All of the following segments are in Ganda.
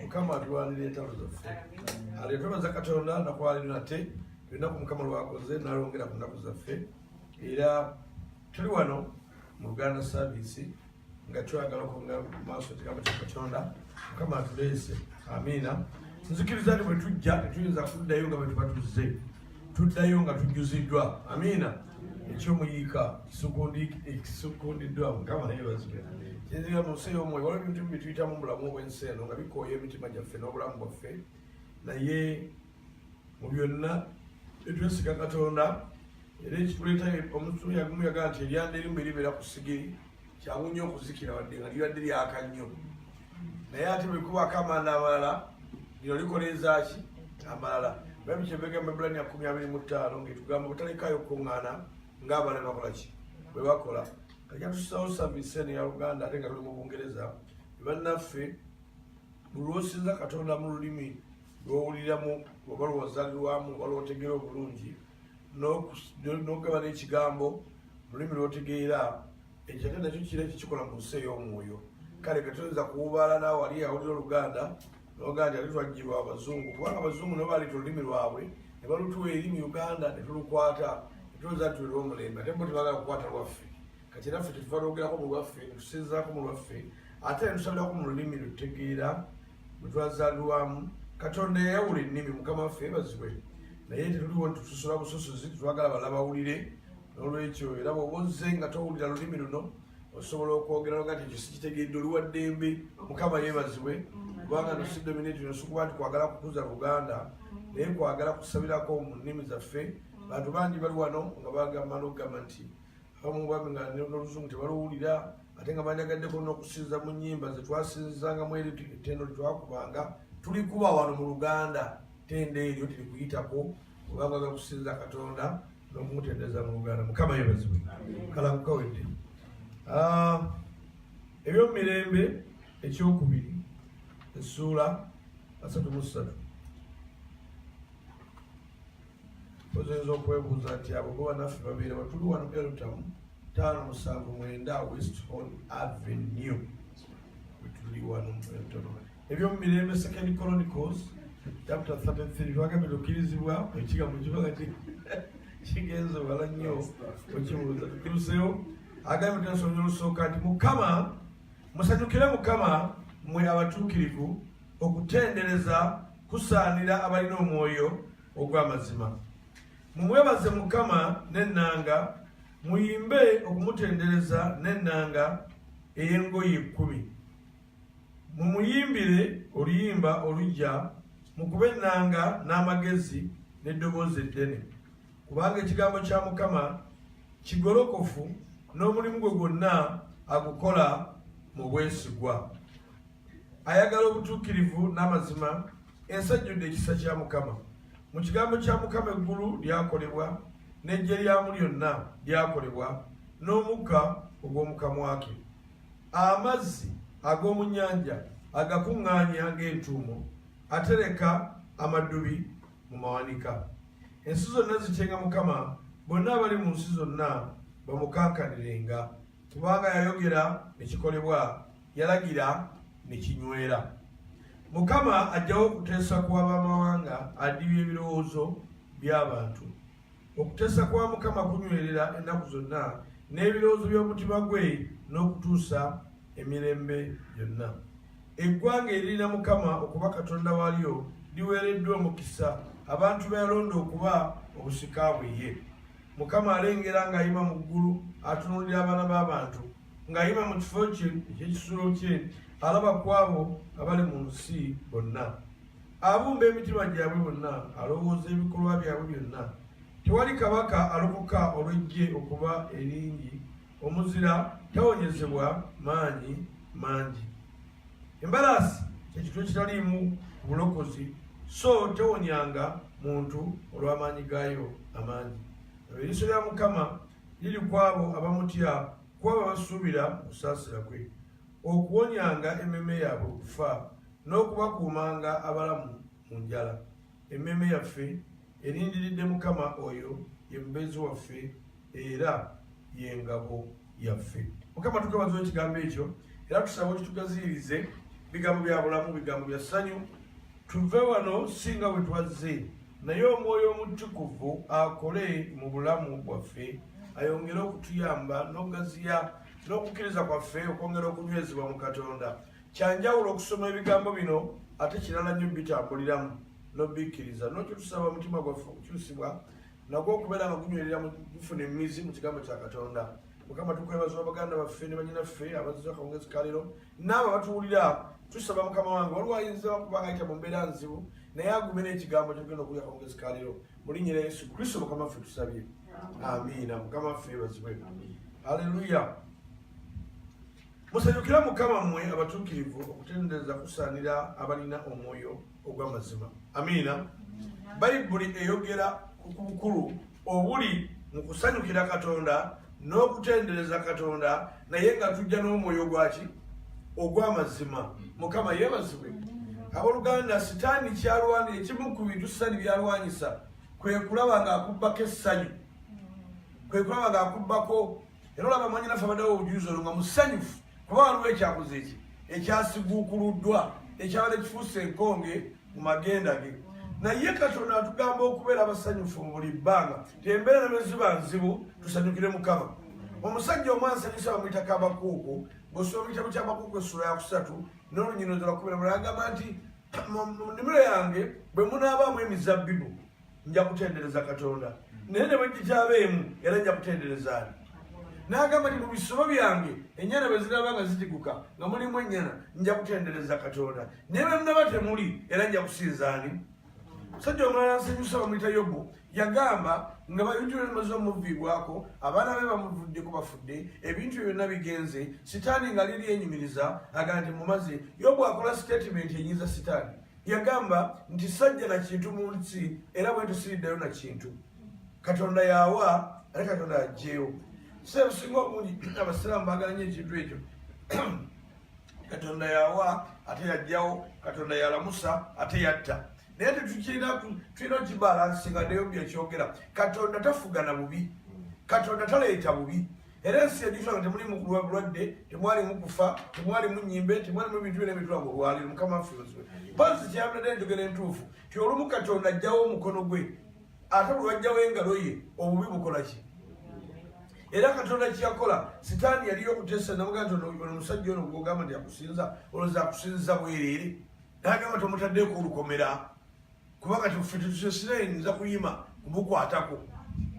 mukama atulwanira entalo zaffe ate twebaza katonda nakwaliro nate enaku mukama lwakoze nalwongera ku naku zaffe era tuli wano mu luganda saviisi nga twagala okunga maaso ekigambo kya katonda mukama atuleese amiina nzikiriza nti bwe tujja tetuyinza kuddayo nga bwe tuba tuzze tuddayo nga tujjuziddwa amiina ekyomuyiika kisukundiddwa mukama yebazibwe kyenziga mu nsi ey'omwoyo waliwo ebintu bye tuyitamu mu bulamu obw'ensi eno nga bikooya emitima gyaffe n'obulamu bwaffe naye mu byonna etwesiga katonda era ekituleetayo omutume yagumu yagaa nti eryanda erimu eribeera ku sigiri kyangu nnyo okuzikira wadde nga libadde lyaka nnyo naye ate bwekubaako amanda amalala lino likola ezaaki amalala baibu kyebegamba ebulani akumi abiri mu ttaano ngaetugamba butalekayo okukuŋŋaana ng'abala bakola ki bwe bakola kajatusawo savise ne ya uganda ate nga tuli mu bungereza bannaffe bulwosinza katonda mu lulimi lwowuliramu oba lwozalirwamu oba lwotegera obulungi n'okugaba n'ekigambo lulimi lwotegeera ekyo ate nakyo kira kikikola mu nsi ey'omwoyo kale nga toyinza kuwubaala naawe ali awulira oluganda nogaa nti ate twajjirwa abazungu kubanga abazungu nabo baleeta olulimi lwabwe ne balutuwa eri mu uganda ne tulukwata ne tulowooza nti tuliwo omulembe ate bo tebagala kukwata lwaffe kati era ffe tetuva lwogerako mu lwaffe ne tusinzaako mu lwaffe ate ne tusabirako mu lulimi lwetutegeera bwe twazaalirwamu katonda yayawula ennimi mukama waffe ebazibwe naye tetuliwo nti tusosola busosozi tetwagala bala bawulire n'olwekyo era bwoba ozze nga towulira lulimi luno osobola okwogera nga kyekyo sikitegedde oli wa ddembe mukama yebazibwe kubanga nosidominati nosikuba nti kwagala kukuza luganda naye kwagala kusabirako mu nnimi zaffe bantu bangi bali wano nga bagamba nogamba nti abamu bambi nga noluzungu tebaluwulira ate nga bandagaddeko n'okusinza mu nyimba zetwasinzangamu eri ettendo lyetwakubanga tulikuba wano mu luganda tendo eryo tirikuyitako kubanga ga kusinza katonda n'okumutendereza mu luganda mukama yebazibwe kalakukawedde ah, ebyomumirembe ekyokubiri essuula asatu mu ssatu Ozoyinza okwebuuza nti abo bo banaffe babeera batuli wano Eltamu taano musanvu mwenda West Hall Avenue wetuli wano mu Eltamu ebyomu mirembe Second Chronicles chapter 33 twagambye tukkirizibwa ekigambo kiba kati kigenze wala nnyo okibuuza tukiruseewo agambye tunasomya olusooka nti mukama musanyukire mukama mwe abatuukirivu okutendereza kusaanira abalina omwoyo ogw'amazima mumwebaze mukama n'ennanga muyimbe okumutendereza n'ennanga ey'engoye ekkumi mumuyimbire oluyimba olujja mukube ennanga n'amagezi n'eddoboozi eddene kubanga ekigambo kya mukama kigolokofu n'omulimu gwe gwonna agukola mu bwesigwa ayagala obutuukirivu n'amazima ensi ejjudde ekisa kya mukama mu kigambo kya mukama eggulu lyakolebwa n'eggye lyamu lyonna lyakolebwa n'omukka ogw'omukamwake amazzi ag'omu nnyanja agakuŋŋaanya ng'entuumo atereka amaddubi mu mawanika ensi zonna zityenga mukama bonna abali mu nsi zonna bamukankanirenga kubanga yayogera ekikolebwa yalagira ne kinywera mukama ajjawo okuteesa kwa bamawanga adibya ebirowoozo by'abantu okuteesa kwa mukama kunywerera ennaku zonna n'ebirowoozo by'omutima gwe n'okutuusa emirembe yonna eggwanga eririna mukama okuba katonda waalyo liweereddwa omukisa abantu beyalonda okuba obusika bwe ye mukama alengera ng'ayima mu ggulu atunuulira abaana b'abantu ng'ayima mu kifo kye eky'ekisulo kye alaba ku abo abali mu nsi bonna abumba emitima gyabwe bonna alowooza ebikolwa byabwe byonna tewali kabaka alokoka olw'eggye okuba eringi omuzira tawonyezebwa maanyi mangi embalaasi kyekitu ekitaliimu bulokozi so tewonyanga muntu olw'amaanyi gaayo amaangi eriiso lya mukama Liri ku abo abamutya, ku abo abasuubira mu kusaasira kwe, okuwonyanga emmeeme yaabwe okufa n'okubakuumanga abalamu mu njala. Emmeeme yaffe erindiridde Mukama oyo ye mubeezi waffe era ye ngabo yaffe. Mukama tukabaza ekigambo ekyo era tusaba okitugaziirize bigambo bya bulamu, bigambo bya ssanyu, tuve wano si nga bwe twazze. naye omwoyo omutukuvu akole mu bulamu bwaffe ayongere okutuyamba n'okugaziya n'okukkiriza kwaffe okwongera okunywezebwa mu katonda kyanjawulo okusoma ebigambo bino ate kirala nnyo bitambuliramu nobikkiriza nokyo tusaba omutima gwaffe okukyusibwa nagwo okubeera nga gunywerera gufuna emizi mu kigambo kya katonda mukama tukwebaza baganda baffe ne banyinaffe abazizakawungezi kaliro naabo abatuwulira tusaba mukama wange waliwo ayinza okubanga ayita mu mbeera nzibu naye agume n'ekigambo kyogenda okuya kamugezi kaliro mulinyira yesu kristo mukama ffe tusabye amiina mukama ffe bazibwe aleluya musanyukira mukama mmwe abatuukirivu okutendereza kusaanira abalina omwoyo ogw'amazima amiina bayibuli eyogera ku bukulu obuli mu kusanyukira katonda n'okutendereza katonda naye nga tujja n'omwoyo gwaki ogw'amazima mukama yebazibwe aboluganda sitaani kyalwani ekimu ku bintu sitaani byalwanyisa kwe kulaba ng'akubbako essanyu kwe kulaba ng'akubbako era olaba mwanyinafe abaddewo obujuzi olwo nga musanyufu kuba waliwo ekyabuze eki ekyasiguukuluddwa ekyabadde kifuuse enkonge mu magenda ge naye katonda atugamba okubeera abasanyufu mu buli bbanga tembeera ne ziba nzibu tusanyukire mukama omusajja omu ansanyusa bamuyita kabakuuku bwosoma mu kitabo kyabakuuku essula ya kusatu n'olunyino zalakubira mulagamba nti mu nnimiro yange bwe munaabaamu emizabbibu nja kutendereza katonda naye ne bwegityabeemu era nja kutendereza ani n'agamba nti mu bisolo byange ennyana bwe ziraba nga zitiguka nga mulimu ennyana nja kutendereza katonda naye bwe munaba temuli era nja kusinza ani musajja omulala nsanyusa bamuyita yobu yagamba nga bayingira emaze omuviibwako abaana be bamuvuddeko bafudde ebintu byo byonna bigenze sitaani nga liri enyumiriza aga nti mumaze yobu akola sitatimenti enyinza sitaani yagamba nti sajja na kintu mu nsi era bwe tusiriddeyo na kintu katonda yawa ate katonda ajjeewo so ebusinga obungi abasiraamu bagala nyo ekintu ekyo katonda yawa ate yajjawo katonda yalamusa ate yatta naye tetulina tulina okibalansinga naye byekyogera katonda tafugana bubi katonda taleeta bubi era ensi yajjukira nga temulimu kulwa bulwadde temwalimu kufa temwalimu nyimbe temwalimu ebintu byona ebitula mu lwaliro mukama waffe ozwe mpozi kyeyabulade enjogera entuufu ti olumu katonda ajjawo omukono gwe ate olwajjawo engalo ye obubi bukola ki era katonda kyeyakola sitaani yaliyo okutesa namuga nti omusajja ono gwogamba nti akusinza oloza akusinziza bwerere nagamba tomutaddeko olukomera kuba kati ffe tetusesire nza kuyima kumukwatako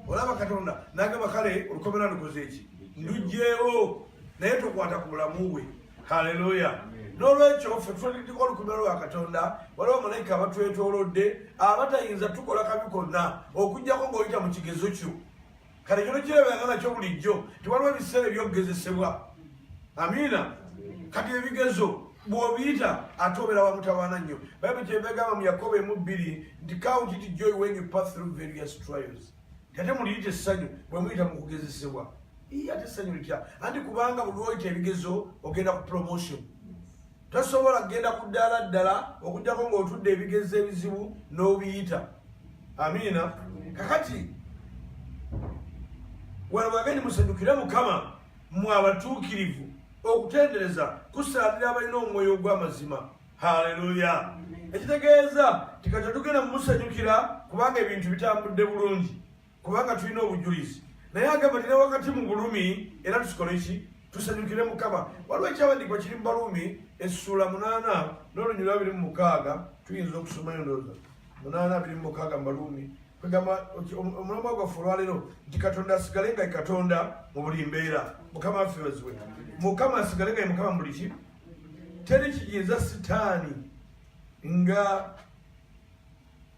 olaba katonda nagamba kale olukomera lukoze eki ndugyewo naye tokwata ku bulamu bwe haleluya n'olwekyo ffe tutandikiko olukomera lwa katonda waliwo malayika abatwetolodde abatayinza tukola kabi konna okujjako ng'oyita mu kigezo kyo kale kino kirabiranga nakyo bulijjo nti waliwo ebiseera ebyokugezesebwa amiina kati ebigezo bwobiyita ate obeera wamutawaana nnyo bayibuli kyebegamba mu yakobo emu bbiri nti count it joy when you pass through various trials ate muliyita essanyu bwe muyita mu kugezesebwa ate essanyu litya anti kubanga buli oyita ebigezo ogenda ku promotion tosobola kugenda ku ddaala ddala okujjako ng'otudde ebigezo ebizibu n'obiyita amiina kakati wano bwageni musanyukire mukama mwe abatuukirivu okutendereza kusaanira abalina omwoyo ogw'amazima haleluya ekitegeeza tikati tugenda mumusanyukira kubanga ebintu bitambudde bulungi kubanga tulina obujulizi naye agamba tine wakati mu bulumi era tusikole ki tusanyukire mukama waliwo ekyawandiikibwa kiri mu balumi essuula munaana n'olunyulu abiri mu mukaaga tuyinza okusoma endooza munaana abiri mu mukaaga mu balumi kwegamba omulamba gwaffe olwaleero nti katonda asigale nga katonda mu buli mbeera mukama afeeziwe mukama asigale nga mukama mu buli ki teri kiyinza sitaani nga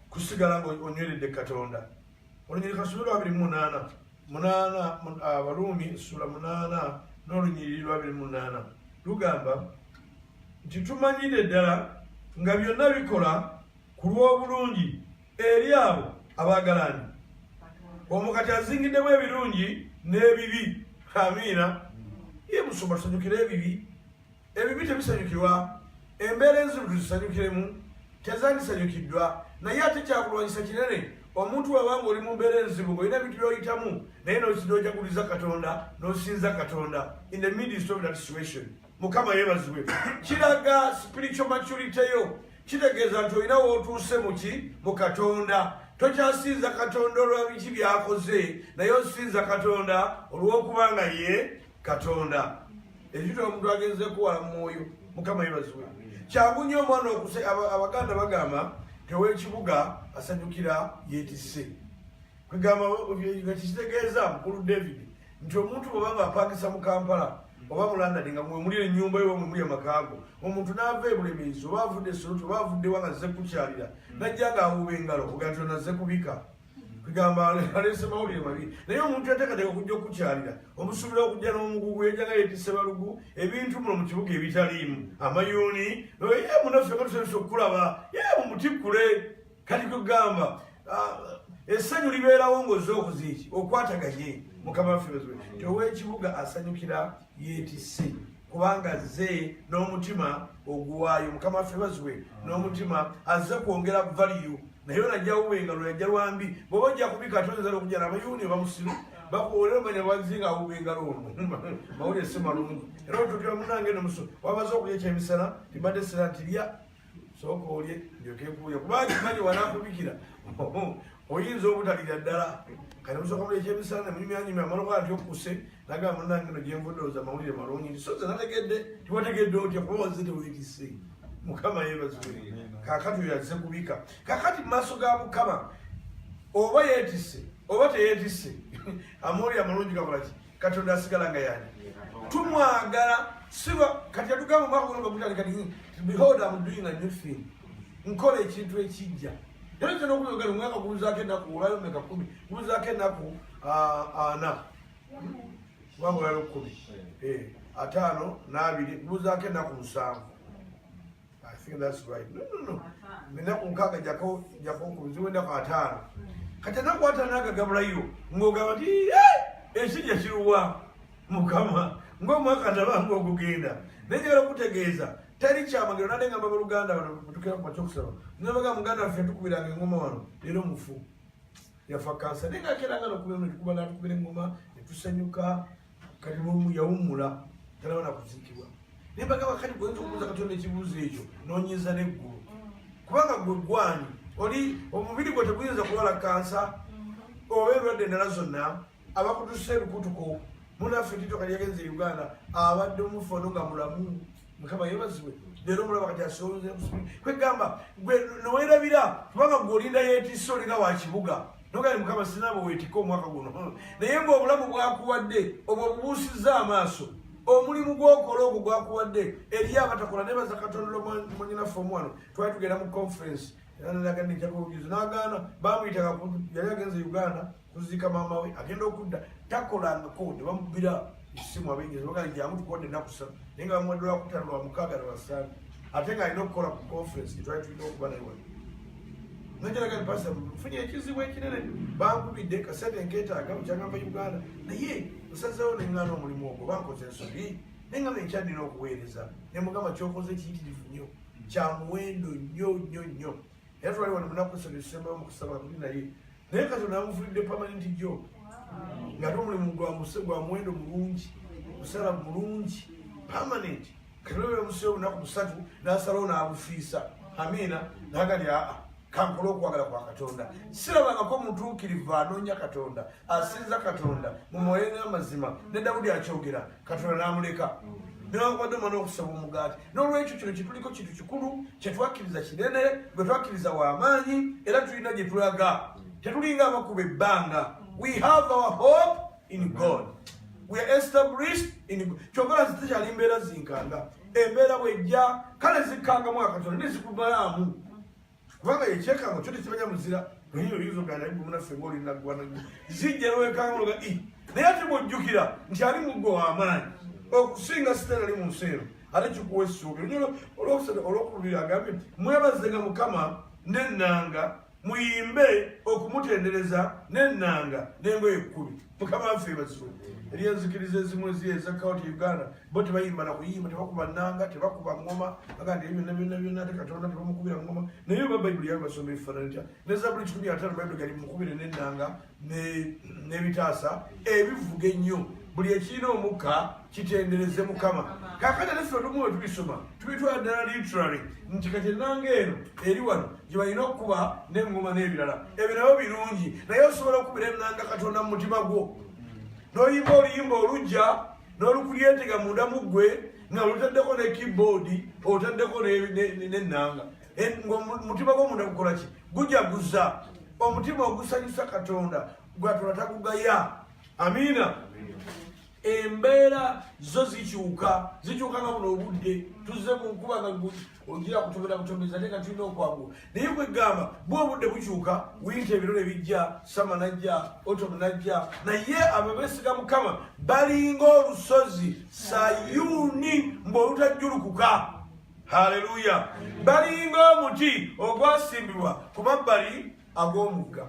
kusigala ng'onyweredde katonda olunyiriri kasula lwabiri munaana munaana abaruumi ah, sula munaana n'olunyiriri lwabiri munaana lugamba nti tumanyidde ddala nga byonna bikola ku lw'obulungi eri abo abaagalani omu kati azingiddemu ebirungi n'ebibi amiina ye musoma tusanyukire ebibi Ebibi tebisanyukirwa, embeera enzibu tuzisanyukiremu tezandisanyukiddwa, naye ate kyakulwanyisa kinene omuntu waba nga oli mu mbeera enzibu ng'olina ebintu by'oyitamu naye n'ojaguliza katonda n'osinza katonda in the midst of that situation mukama yebazibwe kiraga spiritual maturity yo kitegeeza nti olina wootuuse muki mu katonda tokyasinza katonda olwa biki byakoze naye osinza katonda olw'okuba nga ye katonda ekita omuntu agenze kuwala mumwoyo mukama yebaziwe kyangu nyo omwana okuse abaganda bagamba tewekibuga asanyukira yetise kwegamba ekitegeeza mukulu david nti omuntu bweba nga apangisa mu kampala oba mulandadi nga mwemuli enyumba yo mwemuli amakaago omuntu naava ebulemeezi oba avudde esoloti oba avudde wa nga zze kukyalira najja nga awuuba engalo oganti onaze kubika kugamba aleese mawulire mabi naye omuntu yateekateeka okujja okukukyalira omusuubira okujja n'omugugu yajjanga yetise balugu ebintu muno mu kibuga ebitaliimu amayuuni noye munaffe katusobesa okukulaba ye mumutikkule kati kugamba ah, essanyu libeerawo ngaoze okuziiki okwataganye mukama waffe owekibuga asanyukira yetise kubanga azze n'omutima oguwaayo mukama waffe baziwe n'omutima azze kwongera valiyu naye onajawuba engalo yajja lwambi bwoba ojja kubika ate oyinza nokujala abayuuni bamusiru bakuwolera omanya wazi nga awuba engalo ono mawulire simalungu era otutira munange nomuso wamaze okulya ekyemisana tibadde sira nti lya sooka olye ndyokekuuya kubanga manyi wanakubikira oyinza obutalira ddala kati musooka muli ekyemisana nemunyumyanyumya amaloka ati okuse nagamba munange no gyenvudooza amawulire malungi nti soze nategedde tiwategedde otya kuba waze tewekise mukama yebazwe kakati oyo aze kubika kakati mumaaso ga mukama oba yetise oba teyetise amawulire amalungi gakolaki katonda asigala nga yani tumwagala siba kati yatugamba omwaka guno bagutale kati behold am doing a new thing nkola ekintu ekijja era kyona okuyogera omwaka gubuzaako enaku olayo meka kumi gubuzaako enaku ana kubanga olayo kumi eh, ataano n'abiri gubuzaako enaku musanvu I think that's right. No, no, no. Mina kunkaka jako jako kuziwe na katano. Kata na kwa tana ka gabra yu. Ngo gaba ti eh eshi ya shiruwa mukama. Ngo mwaka na ba ngo kugenda. Nenye gara kutegeza. Tari chama ngira nade ngamba Uganda wana kutukira kwa choksa. Nabaga muganda afya tukubira ngoma wano. Lero mufu. Yafa kansa. Nenga kera ngalo kubira ngoma tukubira ngoma. Tusanyuka. kati nomu yawummula talaba nakuziikibwa naye bagamba kati gwoyinza okubuuza katonda ekibuuzo ekyo nonyinza neggulu kubanga gwe gwani oli omubiri gwe teguyinza kulwala kansa oba endwadde endala zonna abakutusa ebikutuko munaffe titoka lyagenza e uganda abadde omufano nga mulamu mukama yebazibwe leero mulaba kati asonze kwegamba gwe nowerabira kubanga gwe olinda yetisa olinga wa kibuga nogali mukama sinaba wetika omwaka guno hmm. naye ngaobulamu bwakuwadde obwo bubuusizza amaaso omulimu gwokola ogwo gwakuwadde eriyo abatakola naye baza katonda omwanyinaffe omwano twali tugenda mu conference nagaana bamuyita yali agenze uganda kuziika maama we agenda okudda takolangako ne bamubira esimu abengezi bagaa jangu tukodde ennaku ssatu naye nga bamuwadde lwakutano lwa mukaaga ne basande ate nga alina okukola ku conference gyetwali tulina okuba naye wali nageraga ni pasita nfunye ekizibu ekinene bankubidde kasente nketaaga mukyagamba uganda naye nsazeewo neŋŋaana omulimu ogwo bankoze ensobi naye nga nekyandina okuweereza ne mugamba kyokoze kiyitirivu nnyo kya muwendo nnyo nnyo nnyo era twali wali munaku satu ezisembayo mu kusaba tuli naye naye katonda amufulidde pamanenti gyo nga ate omulimu gwamuse gwa muwendo mulungi musala mulungi pamanenti katonda bebamuseyo olunaku musatu nasalawo n'abufiisa amiina nagali aa kankole okwagala kwa katonda sirabangako mutuukirivu anoonya katonda asinza katonda mu mwoyo n'amazima ne dawudi akyogera katonda n'amuleka newakubadde omwana okusaba omugaati n'olwekyo kino kituliko kintu kikulu kyetwakkiriza kinene gwe twakkiriza w'amaanyi era tulina gye tulaga tetulinga abakuba ebbanga we have our hope in god we are established in god kyogala zitekyali mbeera zinkanga embeera bwejja kale zikkangamu akatonda nezikumalaamu kubanga ekyekango kyo tekimanya muzira naye oyinza ogana naye munaffe ngaoli naggwana zijja nowekanguloga i naye ate bwojjukira nti ali muggo wamaanyi okusinga sitaani ali mu nsi eno ate kikuwa essuubi onyolo olwokusatu olwokulubiri agambye nti mwebazenga mukama nennanga muyimbe okumutendereza nennanga nengoye ekkumi mukama waffe ebazibwe eri enzikiriza ezimu ezi eza kaunti uganda bo tebayimba na kuyimba tebakuba nanga tebakuba ngoma aga nti ebyonna byonna byonna te katonda tebamukubira ngoma naye oba bayibuli yabe basoma ebifaanani tya ne zabuli kikumi ataano bayibuli gali mukubire n'ennanga n'ebitaasa ebivuga ennyo buli ekirina omukka kitendereze mukama kakati ate ffe olumu wetubisoma tubitwala ddala literary nti kati ennanga eno eri wano gye balina okukuba n'engoma n'ebirala ebyo nabyo birungi naye osobola okukubira ennanga katonda mu mutima gwo n'oyimba oluyimba olujja n'olukulyetega munda mu ggwe nga lutaddeko ne keyboard otaddeko n'ennanga ngaomutima gwo munda gukola ki gujaguza omutima ogusanyusa katonda gwatula takugaya amiina embeera zo zikyuka zikyuka nga buno obudde tuzze mu nkuba nga ogira kutomera butomeza ate nga tulina okwagula naye kwegamba bwe obudde bukyuka winta ebiro ne bijja sama najja otom najja naye abo besiga mukama balinga olusozi sayuni mbu olutajjulukuka haleluya balinga omuti ogwasimbibwa ku mabbali ag'omugga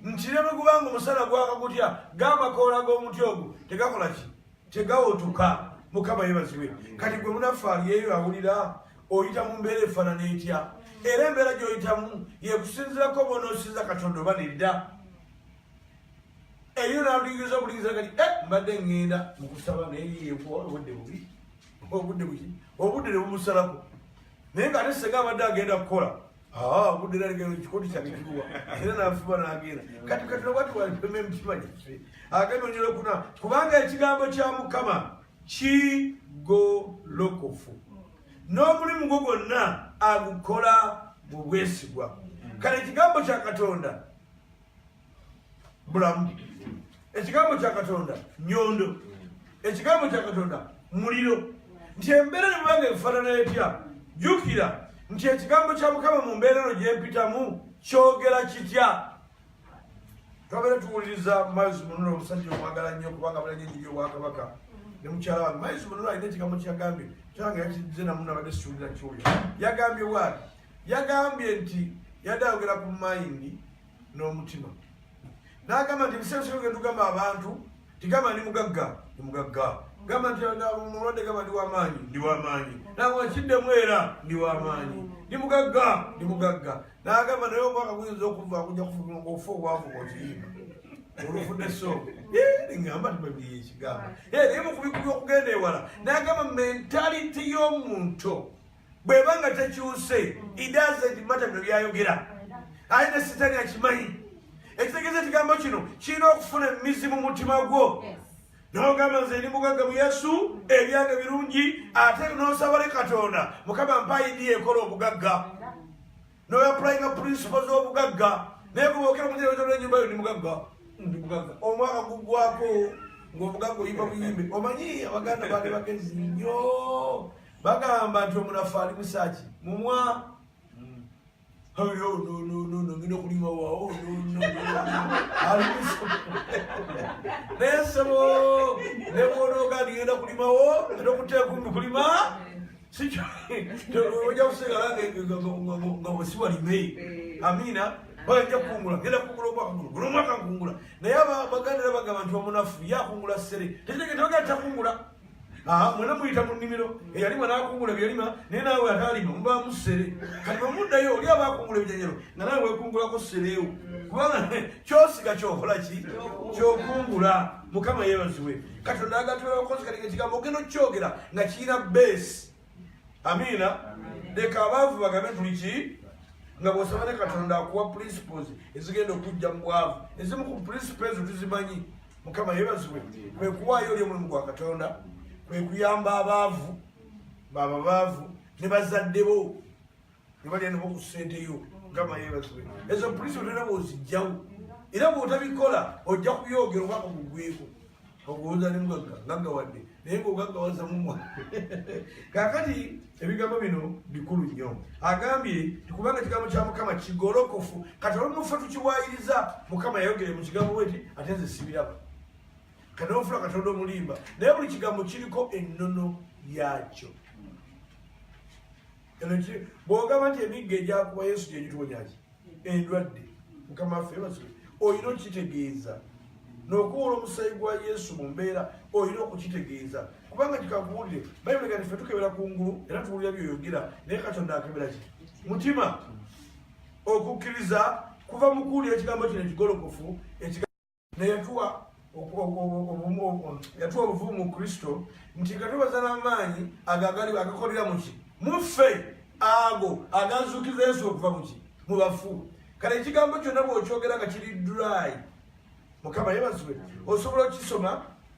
nti ne bwe gubanga omusana gwaka gutya g'amakoola g'omuti ogwo tegakola ki tegawotuka mukama yebaziwe kati gwe munaffe aliyeyo awulira oyita mu mbeera efaanana etya era embeera gy'oyitamu yekusinzirako bonosinza katonda oba nedda eyo naluyinza obulinza kati eh, mbadde ŋŋenda mu kusaba naye yekuwa obudde bubi obudde buki obudde ne bumusalako naye nga ate senga abadde agenda kukola Ah, budde nalengera ekikoti kyange kiruwa era nanfuma nagenda kati kati nobwati walipema emitima gyaffe agenda onyera okuna kubanga ekigambo kya mukama kigolokofu n'omulimu gwo gwonna agukola mu bwesigwa kale ekigambo kya katonda bulamu ekigambo kya katonda nyondo ekigambo kya katonda muliro nti embeera nebubanga ebifaanana etya jukira nti ekigambo kya mukama mu mbeera eno gyempitamu kyogera kitya twabera tuwuliriza miles munula omusajja omwagala nnyo kubanga bulanye nyiyo obwakabaka ne mukyala wange miles munula alina ekigambo kyagambye kyange yakize namu nabadde siwulira kyoyo yagambye waali yagambye nti yadde ayogera ku mayindi n'omutima n'agamba nti ebiseera bisinga genda tugamba abantu tigamba ndi mugagga ndi mugagga gamba nti omulwadde gamba ndi wamaanyi ndi wamaanyi nagamba kiddemu era ndi wamaanyi ndi mugagga ndi mugagga n'agamba naye obwaka buyinza okuva kuja kufuma ngaofa obwavu bwokiyimba olufudde so ngamba tibabiriye ekigamba naye mukubikubi okugenda ewala n'agamba mentality y'omuntu bweba nga tekyuse idazedimata bino byayogera aye ne sitani akimanyi ekitegeeza ekigambo kino kirina okufuna emizi mu mutima gwo nogamba nze ndi mugagga mu yesu ebyange birungi ate nosabale katonda mukama mpaidi ekola obugagga noyapulayinga purinsipo z'obugagga naye gubokera mujeeaa enyumba yo ndi mugagga ndi mugagga omwaka gugwako ngaomugagga oyimba buyimbe omanyi abaganda bali bagezi nyo bagamba nti omunafu ali musaki mumwa ngina okulima wawo ali naye sebo nebwonoga ndigenda kulimawo era okuteekumbi kulima sikyo oja kusigala nga wesiwalime amina bajja kukungula genda kukungula omwaka guno guno omwaka nkungula naye abaganira bagamba nti omunafu yakungula sere tekitegete bagenda takungula Ah, mwena muyita mu nnimiro eyalima n'akungula ebyalima naye naawe ataalima mubaamu ssere kati bwe muddayo oli aba akungula ebijanyalo nga naawe wekungulako ssereewo kubanga kyosiga kyokola ki kyokungula mukama yeebaziwe katonda agatwera okozi kati nga kigambo ogenda okukyogera nga kirina beesi amiina leka abaavu bagabe tuli ki nga bwosaba ne katonda akuwa principles ezigenda okujja mu bwavu ezimu ku principle ezo tuzimanyi mukama yebazibwe kwe kuwaayo oli omulimu gwa katonda kwe kuyamba abaavu baba baavu ne bazadde bo nebalya nabo ku sente yo gamba yebazibwe ezo polisi otera bwozijjawo era bwotabikola ojja kubyogera obaka kugweko okuwuza ne mugagga ngaggawadde naye ngaogaggawazamu mwa kakati ebigambo bino bikulu nnyo agambye tikubanga kigambo kya mukama kigolokofu kati olumufa tukiwayiriza mukama yayogere mu kigambo weti ate nze sibiraba kati nofula katonda omulimba naye buli kigambo kiriko ennono yakyo bwogamba nti emigga egyakuba yesu gyegitubonyaki endwadde mukama waffe basule olina okukitegeeza nokuwola omusayi gwa yesu mu mbeera olina okukitegeeza kubanga kikakuwulire bayibuli kati fe tukebera ku ngulu era tuwulira byoyogera naye katonda akebera ki mutima okukkiriza kuva mu kuwulira ekigambo kino ekigolokofu neyatuwa yatuwa obuvumu mu kristo nti nga tubaza n'amaanyi ago agali agakolera muki muffe ago agazuukiza yesu okuva muki mu bafu kale ekigambo kyonna bw'okyogera nga kiri dry mukama yebazibwe osobola okisoma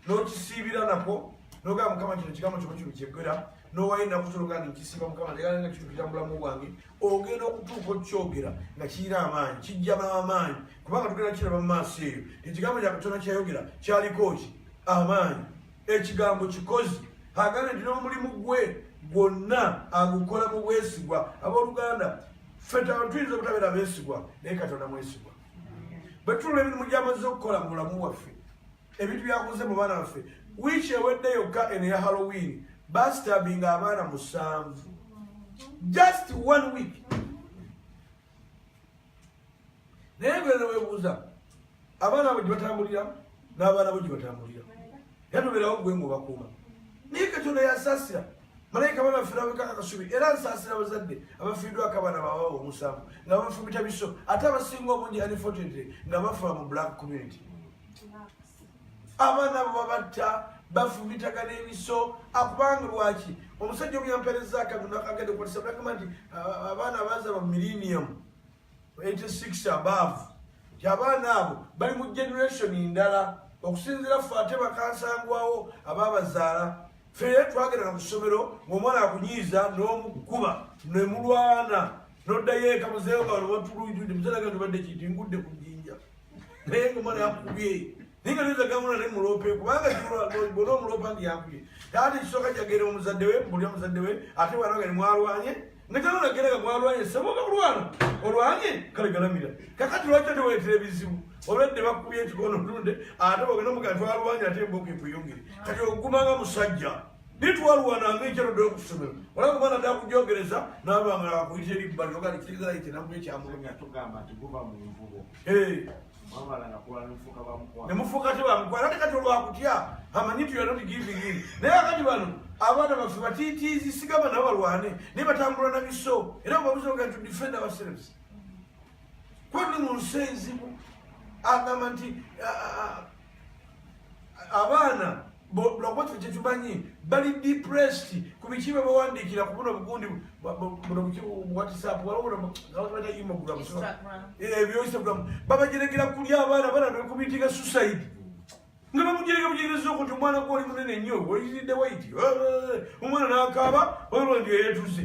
n'okisiibira nakwo nogamba mukama kino kigambo kyoba kino kyegera nowayo nakutologa nti nkisiiba mukama nga kitukira mubulamu bwange ogenda okutuuka okyogera nga kirina amaanyi kijjaba amaanyi kubanga tugenda kiraba mu maaso eyo ekigambo kya katonda kyayogera kyaliko ki amaanyi ekigambo kikozi agambye nti n'omulimu gwe gwonna agukola mu bwesigwa abooluganda feta tuyinza obutabeera beesigwa naye katonda mwesigwa bwe tulula emirimu gy'amazze okukola mu bulamu bwaffe ebintu byaguze mu baana baffe wiiki ewedde yokka eno ya halloween bastabinga abaana musanvu just one week naye gwena webuuza abaana abo gyebatambulira n'abaana bo gyebatambulira era tobeerawo gwe ngaobakuuma naye katonda yasasira malayika bana afirabika akasubi era nsasira abazadde abafiiddwako abaana bawa omusanvu nga bafumita biso ate abasinga obungi unfortunately nga bafa mu black community abaana abo babatta bafumitaka n'ebiso akubanga lwaki omusajja omuyampereza akagenda okwatisa bagamba nti abaana abazalwa mu millennium 86 above nti abaana abo bali mu generation ndala okusinzira ffe ate bakansangwawo ababazaala fere twagerana ku ssomero ng'omwana akunyiiza n'omukuba ne mulwana noddayo eka muzeeyo nga wano watuluidde muzalaga nti obadde kintu ngudde ku naye nga omwana yakubye naye nga neza gamula ne mulope kubanga bona omulopa ndi yakubye taata ekisooka jagera omuzadde we mbuli omuzadde we ate bwana nga nimwalwanye nga tanonagera nga mwalwanye saboka kulwana olwanye kale galamira kakati lwaki oteweetera ebizibu olwedde bakubye ekikono ntunde ate ogenda omugana twalwanye ate emboka ekuyungire kati ogumanga musajja nitwalwana ngaekyalodde okusomero olaba omwana dakujogereza naba nga akuyita eribbali oga nikiriza yite namu ekyamulumya nemufuuka tebamukwala ate kati olwakutya amanyi nti yona tigivingin naye akati bano abaana baffe batitiizi sigamba nabo balwane naye batambula na biso era babuza oga to defend ourselves kwani mu nsi enzibu agamba nti abaana lwakuba kife kyetumanyi bali depressed ku biki bwe bawandiikira ku buno bugundi whatsapp ebyoinstagram eh, babajerekera kulya abaana bana nekumitinga suicide nga bamujereka bujereza oku ti omwana gwe oli munene nnyo oyiridde waiti eh, eh, omwana nakaaba olwo ndi eyetuze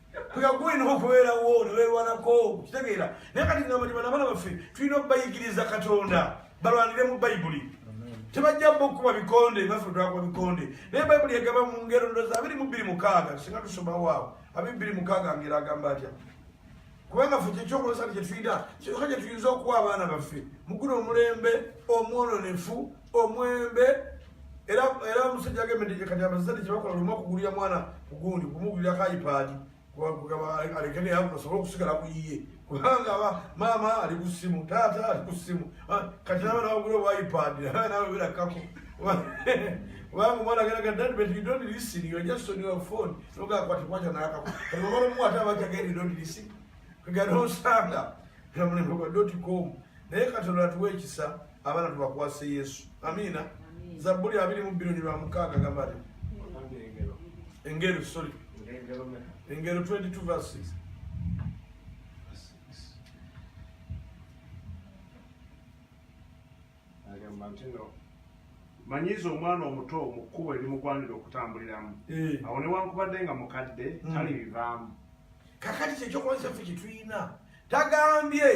kuyagulina okubeerawo newerwanako kitegeera naye kati namanyima nabaana baffe tulina okubayigiriza katonda balwanire mu bayibuli tebajja bokuba bikonde naffe twakuba bikonde naye bayibuli egamba mu ngero ndoza abiri mu bbiri mukaaga singa tusomawo awo abiri bbiri mukaaga ngero agamba atya kubanga ffe kyekyokulosani kyetuyina kyoka kyetuyinza okuwa abaana baffe muguno omulembe omwononefu omwembe era era omusajja agemedde kati abazadde kyebakola lumu okugulira mwana kugundi kumugulirako ipaadi alekene asobole okusigala kuyiye kubanga aba maama ali ku ssimu taata ali ku ssimu ah, kati naba nawagula owa ipaadi nawe birakako kubanga omwana ageraga dad but you don't listen you are just on your phone nogakwatikwata nakako kati omwana omu ate abajageri don't listen kagana osanga namulembekwa doti com naye katonda atuwa ekisa abana tubakwase yesu amiina zabbuli abiri mu bbiri lwa mukaaga gamba ti engero sorry engero 22 verse 6 agamba nti no manyiiza omwana omuto mu kkubo erimugwanira okutambuliramu eh. awo newankubadde nga mukadde hmm. tali bivaamu kakati kyekyokuba kyaffe kyetulina tagambye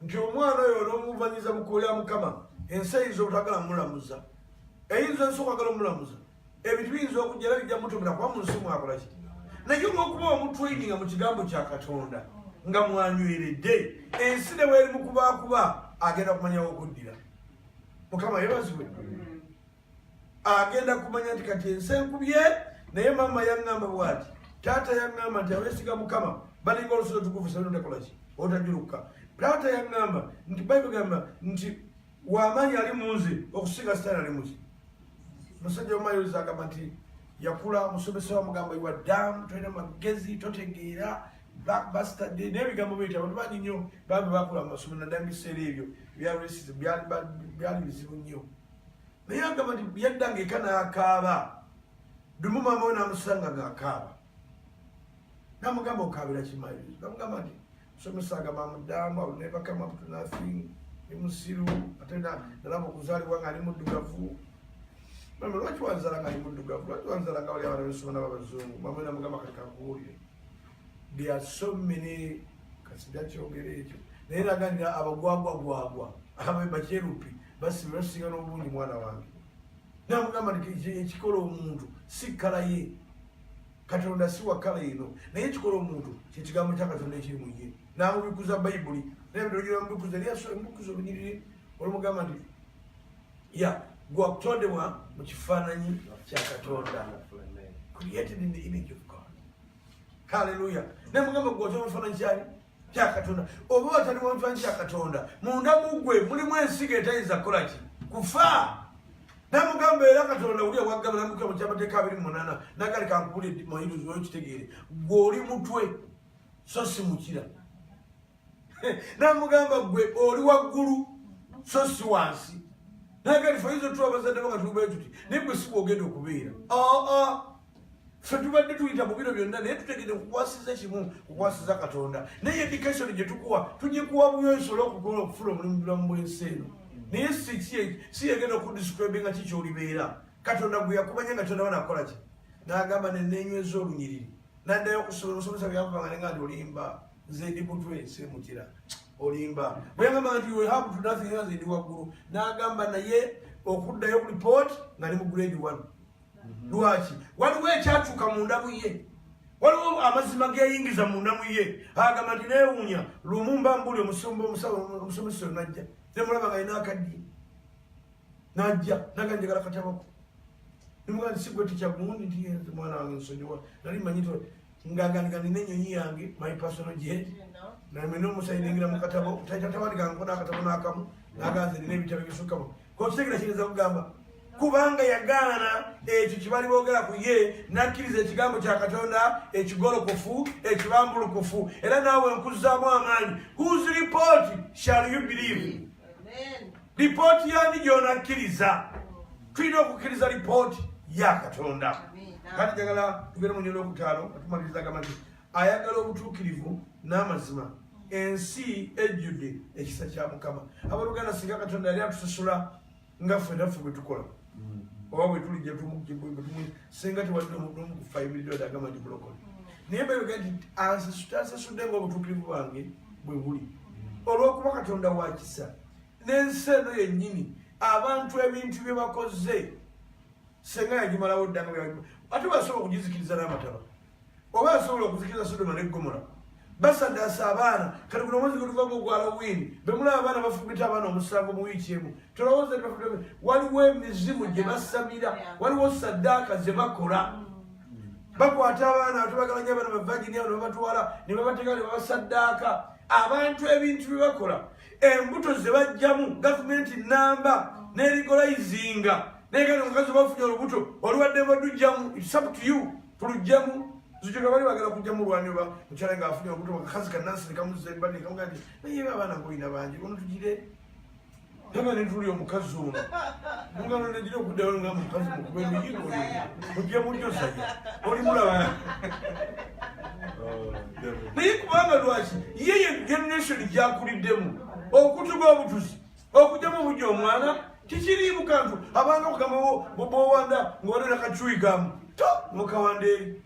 nti omwana oyo onomuvanyiza mukuulya mukama ensi eyinza obutagala mulamuza eyinza ensi okwagala omulamuza ebintu biyinza okujja era bijja mutumira kuba mu nsi mwakolaki naye olwokuba omutraininga mu kigambo kya katonda nga mwanyweredde ensi ne weeri mukubakuba agenda kumanyawo okuddira mukama yebazibwe agenda kumanya nti kati ensi enkubye naye maama yaŋŋamba bwati taata yaŋŋamba nti abeesiga mukama balinga olusozi otukuvu senonekolaki otajuluka taata yaŋŋamba nti bayibuli gamba nti wamaanyi ali mu nze okusinga sitaani ali muki musajja omumayozi agamba nti yakula omusomesa wamugamba iwa dam tolina magezi totegeera blackbuster day naye ebigambo byo nti abantu bangi nnyo bambi bakula mu masomero naddala mu biseera ebyo byali bizibu nnyo naye agamba nti yaddanga eka n'akaaba dumu maama we namusanga ng'akaaba namugamba okaabira kimayizo namugamba nti musomesa agamba mudamba nebakama mtu nothing ni musiru ate nalaba okuzaalibwa nga ali muddugavu mama lwaki wanzala nga ali muddugavu lwaki wanzala nga wali abana besoma nababazungu mama namugamba kati kakubuulire there are so many kasija kyogera ekyo naye naganira abagwagwagwagwa abakyerupi basibira tusinga n'obulungi mwana wange nakugamba nti ekikola omuntu si kkala ye katonda si wa kkala eno naye ekikola omuntu kyekigambo kya katonda ekiri mu ye namubikuza bayibuli naye bitogira mubikuza lyamubikuza obunyiriri olumugamba nti ya gwakutondebwa mu kifaananyi kya katonda created in the image of god halleluya naye mugamba gwatonda mu kifaananyi kyali kyakatonda oba watali wantu wangi kyakatonda munda mugwe mulimu ensiga etayinza kukola ki kufa namugamba era katonda wuli owagabulamuka mu kyamateeka abiri mumunana nagali kankubuli mayiruzi oyo kitegeere gwe oli mutwe so si mukira namugamba gwe oli waggulu so si wansi nagali faizo tuwa bazadde banga tubayo tuti naye gwe si bwogenda okubeera aa ah, ah. ffe tubadde tuyita mu biro byonna naye tutegede kukwasiza kimu kukwasiza katonda naye edikation gye tukuwa tugikuwa buyo nsobola okugola okufuna omulimu bulamu bwensi eno naye si yegenda okudiscribe nga kikyolibeera katonda gwe yakumanya nga tonaba nakola ki nagamba nenenyweza olunyiriri naddayo okusoma omusomesa byakubanga nenga nti olimba nze ndi mutwe simukira olimba bweyagamba nti wehabu tunafinga nze ndi waggulu nagamba naye okuddayo ku lipooti nga ne mu grade one lwaki waliwo ekyakyuka mu ndamu ye waliwo amazima geyingiza mu ndamu ye agamba nti newuunya lumu mba mbuli omusumba omusomesa oyo najja nemulaba nga yina akaddi najja naga njagala katabako nimuga nti sigwe tekyagundi nti yenze mwana wange nsonyiwa nali manyi to ngaganiga nina enyonyi yange my personal jet naye mwena omusayi ningira mu katabo taitatabandika nkona akatabo nakamu naganze nina ebitabo ebisukkamu okitegera kiyinza kugamba kubanga yagaana ekyo kyebali boogera ku ye nakkiriza ekigambo kya katonda ekigolokofu ekibambulukufu era naawe nkuzzaamu amaanyi whos report shall you believe lipooti yani gyonakkiriza tulina okukkiriza lipooti ya katonda kati jagala tugere mu nyola okutaano atumaliriza gamba nti ayagala obutuukirivu n'amazima ensi ejjudde ekisa kya mukama abaluganda singa katonda yali atusasula nga ffenaffe bwe tukola oba bwetuli jetumukibuibutumwi singa tewadde omuntu omu kufa emiriro dagamba nti bulokole naye mbeyoge nti asasudde nga obutuukirivu bwange bwe buli olw'okuba katonda wakisa n'ensi eno yennyini abantu ebintu bye bakoze senga yagimalawo ddanga ate basobola okugizikiriza n'amataba oba asobola okuzikiriza sodoma ne ggomola basadaasa abaana kati guno omwezi gwetuvamu ogwa halloween bemulaba abaana bafumbita abaana omusango mu wiiki emu tolowooza ti bafumbita waliwo emizimu gye basamira waliwo saddaaka ze bakola bakwata abaana atubagala nyo abaana bavagini abo nebabatwala nebabateeka nebabasaddaaka abantu ebintu bye bakola embuto ze bajjamu gavumenti namba nerigolayizinga naye kati omukazi obafunye olubuto oluwadde badujjamu its up to you tulujjemu zujuka bali bagala kujja mu lwanyo ba mukyala nga afunye okutoka kakazi kanansi ne kamuzza ebbali ne kamugaa nti naye abaana ngoyina bangi ono tugire naba ne tuli omukazi ono mugano negira okuddayo nga mukazi mukuba emiyigo mujja mujosaya oli mulaba oh, naye kubanga lwaki ye ye generation gyakuliddemu okutuga obutuzi okujjamu omujja omwana kikiriimu kantu abantu okugamawo bwowanda ngawanera kacuyigamu to mukawanda eri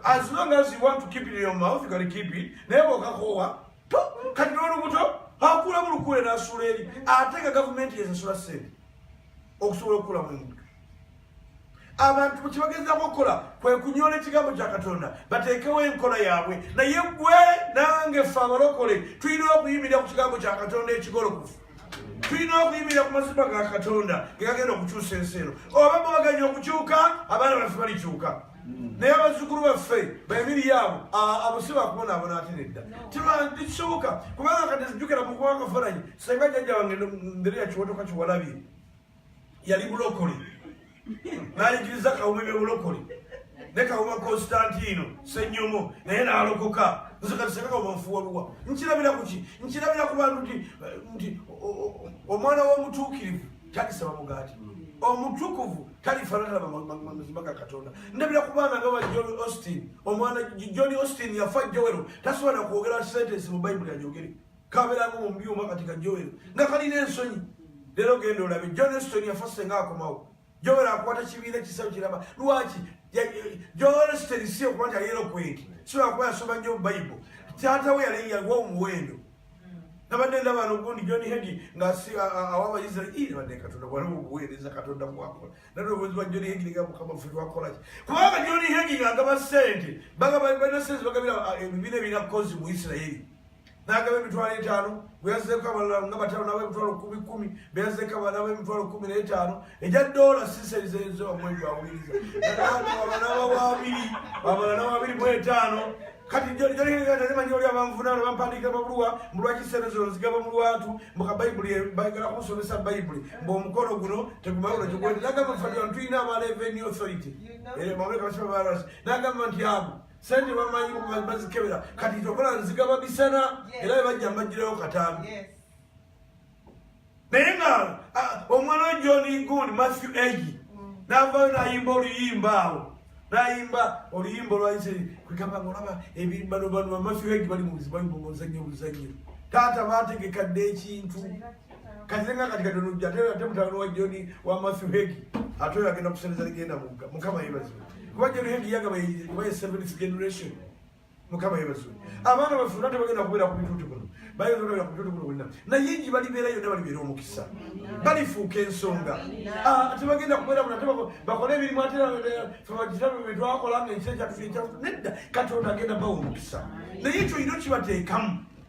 as long as you want to keep it in your mouth you can keep it naye bwokakowa to kati nolubuto akulamu lukule nasula eri ate nga gavumenti yezesula sente okusobola okukulamu omuntu abantu kyebagezaako okukola kwe kunyola ekigambo kya katonda bateekewo enkola yaabwe naye gwe nange fe abalokole tulina okuyimirira ku kigambo kya katonda ekigolokofu tulina okuyimirira ku mazima ga katonda gegagenda okukyusa ensi eno oba mubaganya okukyuka abaana baffe balikyuka naye abazzukulu baffe bemiri yaabo abo si bakubonaabona ate nedda tekisoboka kubanga kati zijjukira mukuba akafaananyi senga jjajja wange ndereya kiwotoka kiwalabye yali bulokole nayigiriza kawuma ebyobulokole ne kawuma konstantino senyomo naye nalokoka nzekatisekaobafuwaluwa nkirabira kuki nkirabira ku bantu nti nti omwana womutuukirivu talisaba mugaati omutukuvu talifanana mazima ga katonda ndabira ku baana nga ba john austin omwana john austin yafa jowero tasobola nakwogera sentensi mu bayibuli ajogere kaberamu mubyuma kati ka joel nga kalina ensonyi leero genda olabe john eston yafa senga akomawo joel akwata kibiina kisawo kiraba lwaki joel eston si okuba nti ayera okweti siwakuba yasoma nyo bible taata we yali yaliwa omuwendo nabadde ndaba nogundi john hegi ngasi awa abaisraeli nabadde katonda waliwo obuweereza katonda bwakola naloboozi bwa john hegi nga mukama fe lwakolaki kubanga john hegi ngaagaba sente balina sente bagabira ebibiina ebirina kozi mu isiraeri n'agaba emitwalo etaano gwe yazzeeko abalala nga batano nabo emitwalo kumi kumi be yazzeeko abanabo emitwalo kumi n'etaano egya doola siserizezo wamwezi awuliriza abanaba wabiri abalala wabiri mu etaano kati jolimanyi oli abanvunaano bampandiikira babuluwa mbu lwaki sente zino nzigaba mu lwatu mbu ka bayibuli bagala kunsomesa bayibuli mbu omukono guno tegumawulo kigwete nagamba fatiwa tulina aba revenue authority eh, mawulekabasibabaras nagamba nti abo sente bamanyi bazikebera kati tokola nziga babisana era bebajja mbajjirawo katambi naye nga omwana we john gund matthew egi mm. navayo nayimba oluyimba awo nayimba oluyimba olwayise kwegamba ngaolaba ebirimbano bano bamatthew egi bali mubuzibu bali mumuzanyo obuzanyo taata bategekadde ekintu kazirenga kati katonojja ate ate mutabani wa joni wa matthew hegi ate oyo agenda kuseneza ligenda mugga mukama yebazibwe kuba joni hegi yagaba kuba ye seventh generation mukama yebazibwe abaana baffe nate bagenda kubeera ku bituuti kuno bayinza okubeera ku bituuti kuno bonna naye ngi balibeera yonna balibeera omukisa balifuuka ensonga ah, tebagenda kubeera kuno ate bakole ebirimu ate febakitabe bye twakola nga ekisa kyatuekya nedda katonda agenda bawa omukisa naye ekyo yina okibateekamu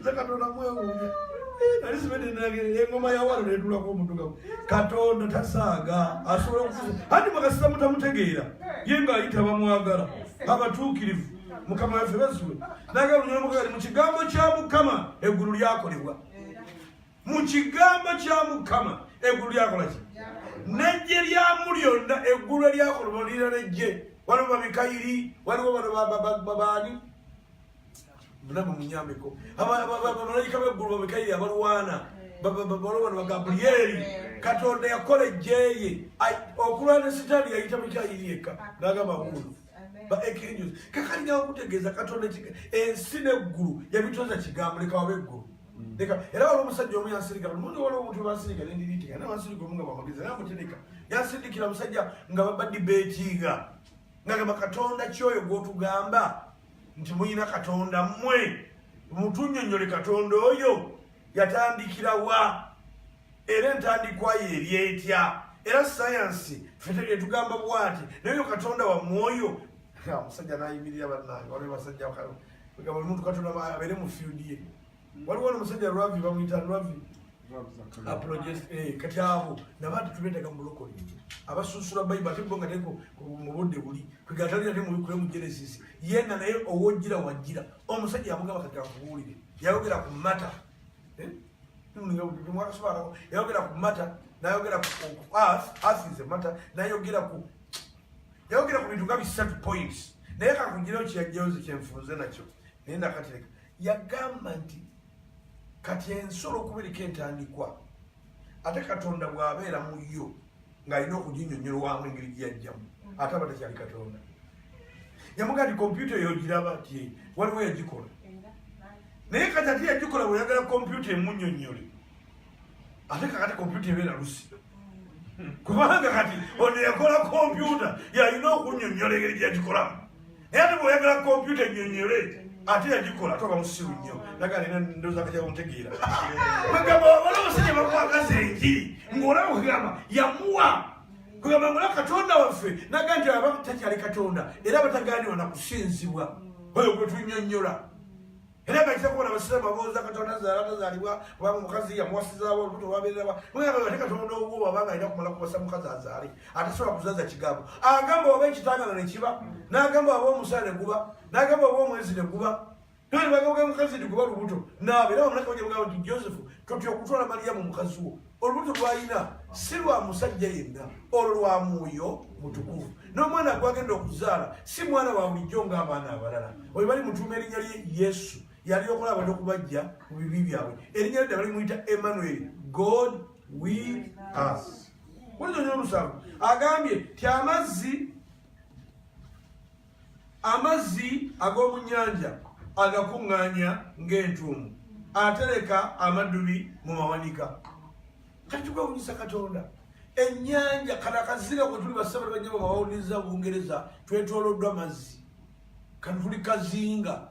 nze katonda mwewuunya nali sibedde nagere engoma yawalo netulako omudugamu katonda tasaaga asobola okufuza anti mukasita mutamutegeera ye nga ayita bamwagala abatuukirivu mukama waffe basuwe naga lunyolo mukagali mu kigambo kya mukama eggulu lyakolebwa mu kigambo kya mukama eggulu lyakola ki nejje lyamu lyonna eggulu eryakolebwa lira nejje waliwo babikayiri waliwo bano babaani namwe munyambeko abamalayika beggulu bamikairi abalwana balwana bagabrieri katonda yakola ejjeye okulwana sitaani yayita mikairi yekka nagamba mulu baekirinyos kakali nawe kutegeeza katonda ensi neggulu yabitonza kigambo leka waba eggulu leka era wali omusajja omu yansirika lumundu waliwo omuntu bansirika nendiriteka naye wansirika omu nga bamagezi naye amutereka yansindikira omusajja nga babadibeetiinga nagamba katonda kyoyo gwotugamba nti muyina katonda mmwe mutunyonyole katonda oyo yatandikira wa era entandikwayo eryetya era sayansi fetugamba bwati nayo katonda wamwoyo omusajja nayimirira banange waliwo basajja muntu katonda abeere mu fiudi ye waliwo nomusajja lwavi bamuyita lwavi eh, kati abo nabantu tubetaga mubulokole abasunsula bayibu ate bo nga teko mubudde buli kwegatalira temubikule mu genesis yena naye owojira wajira omusajja yamugamba kati akubuulire yayogera ku mata eh? yayogera ku mata nayogera ku earth earth is a mata nayogera ku yayogera ku bintu nga bisatu points naye kakugirawo kiyajjawo nze kyenfunze nakyo naye nakatereka yagamba nti kati ensolo okubereka entandikwa ate katonda bw'abeera mu yo ng'alina okuginyonnyolwamu engeri gye yajjamu ate aba takyali katonda yamuga nti kompyuta eyo giraba ti waliwo yagikola naye kati ate yagikola bweyagala kompyuta emunyonnyole ate kakati kompyuta ebeera lusi kubanga kati ono yakola kompyuta yalina okunyonyola engeri gyagikolamu naye ate bweoyagala kompyuta enyonyole ate yagikola ate obamusiru nnyo nagalina ndozakajabumutegeera bagamba wabala omusajja bakwagaza enjiri ngaolaba kugamba yamuwa kugamba ngola katonda waffe naga nti aba takyali katonda era batagaaniwa nakusinzibwa oyo gwetunyonyola era nga kitako bona abasiraamu babuuza katonda azaala tazaalibwa kubanga omukazi yamuwasizaawo olubuto lwabeererawa mugamba ate katonda ogwo wabanga alina kumala kuwasa mukazi azaale atasobola kuzaza kigambo agamba oba ekitangano ne kiba n'agamba oba omusala ne guba n'agamba oba omwezi ne guba nolibagaga mukazi nti guba lubuto naabe era bamulaka bajamugamba nti joseph totya okutwala maliyamu mukazi wo olubuto lwalina si lwa musajja yenna olwo lwa mwoyo mutukuvu n'omwana gwagenda okuzaala si mwana wa bulijjo ng'abaana abalala oyo bali mutuuma erinnya lye yesu yali okola abantu okubajja mu bibi byabwe erinnya lye ddala limuyita emmanuel god will us wulizonyo omusanvu agambye ti amazzi amazzi ag'omu nnyanja agakuŋŋaanya ng'entuumu atereka amaddubi mu mawanika kati kwewunyisa katonda ennyanja kana kazira kwe tuli basabali banyama bawuliriza bungereza twetoloddwa mazzi kano tuli kazinga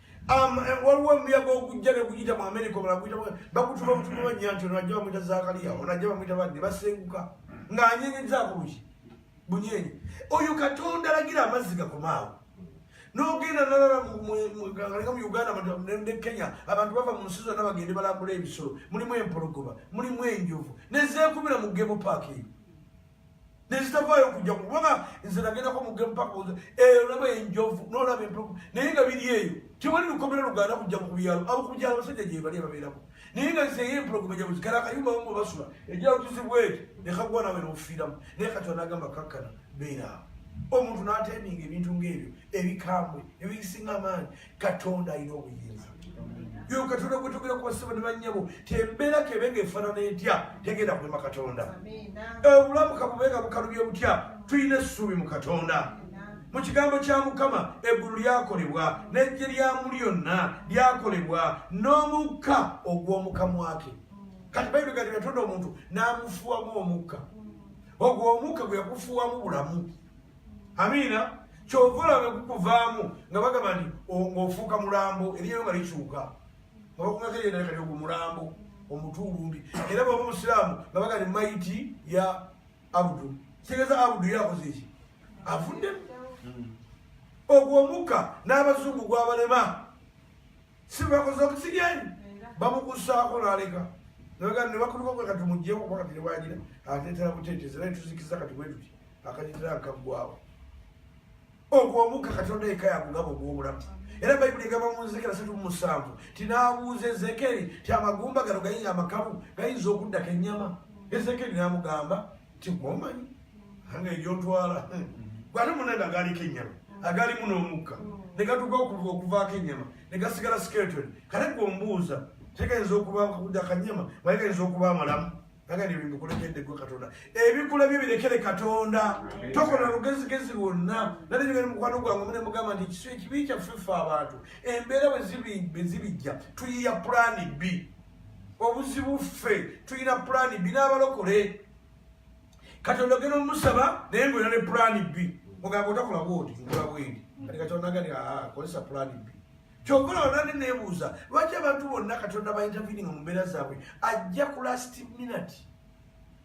Um, eh, waliwo omuyaga ogujja neguyita mu amerika omala guyita bakutuma butuma bajja nti ono ajja bamwita zakaliya ono ajja bamwita badde basenguka ng'anyenyiza bulungi bunyenyi oyo katonda alagira amazzi gakomaawo nogenda nalala galeka mu uganda ne kenya abantu bava mu nsi zonna bagende balambula ebisolo mulimu empologoma mulimu enjovu nezeekubira mu gemu paaka eyo nezitavaayo kujja kubanga nze nagendako mugemupakoza eyo olaba enjovu nolaba empuku naye nga biri eyo tewali lukomera luganda kujja mu kubyalo abo kubyalo abasajja gyebali ababeerako naye nga nze eyo empuku baja muzikala akayumba bamu basula ejalo tuzibwa eti nekagwa nawe nofiiramu naye kati anagamba kakkana beera awo omuntu nateminga ebintu ngaebyo ebikambwe ebisinga amaanyi katonda alina obuyinza yo katonda gwetugera ku basaba ne bannyabo tembeera kebe nga efaanana etya tegenda kulema katonda obulamu kabubenga bukalubye butya tulina essuubi mu katonda mu kigambo kya mukama eggulu lyakolebwa n'eggye lyamu lyonna lyakolebwa n'omukka ogw'omukamwake kati bayibuli gati yatonda omuntu n'amufuwamu omukka ogwo omukka gwe yakufuwamu bulamu amiina kyova olaba gukuvaamu nga bagamba nti ofuuka mulambo eriyo nga likyuka nga bakumako eyendaekati ogwo mulambo omutuulumbi era baba omusiraamu nga bagani maiti ya abudu kitegeeza abudu yakoze eki avuddemu ogwo omukka n'abazungu gwabalema sibakoze oxygen bamukusaako naleka nebakuluka kwe kati mujjeko kuba kati nebwagira atetera butetezi naye tuzikiza kati bwetuti akajitira akaggwawo ogwo omukka katonda yekka yakugaba ogwobulamu era bayibuli egamba mu nzekera satu mumusanvu tinaabuuza ezekeri ti amagumba gano gayinza amakabu gayinza okuddako ennyama ezekeri namugamba kigwomanyi anga egyotwala gwate munange agaaliko ennyama agaalimu n'omukka ne gatuka okuvaako ennyama ne gasigala skeleton kale gwe ombuuza tegayinza okuba kuda kanyama maye gayinza okuba amalamu agani ebimbukulekedde gwe katonda ebikula byo birekere katonda tokola lugezigezi lwonna nali nyogeri mukwano gwange mune mugamba nti ekisu ekibi kyaffe ffe abantu embeera bwezibijja tuyiya pulani bbi obuzibu ffe tulina pulaani bbi n'abalokole katonda ogenda omusaba naye ngaolina ne pulaani bbi ogamba otakola bwoti nkola bwendi kati katonda gani akozesa pulaani bbi kyokola olande nebuuza lwaki abantu bonna katonda baintervininga mu mbeera zaabwe ajja ku last minute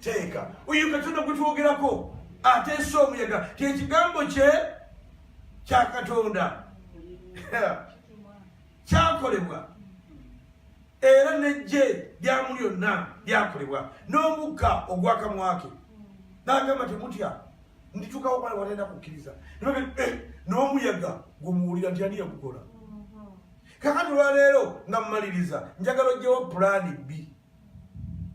teeka oyo katonda gwe twogerako ateesa omuyaga kyekigambo kye kya katonda kyakolebwa era nejje lyamu lyonna lyakolebwa n'omukka ogwakamwake nagamba temutya nditukawo bale watenda kukkiriza eh, n'omuyaga gumuwulira nti ani yagukola kakati olwaleero nga mumaliriza njagala ojjewo pulaani bbi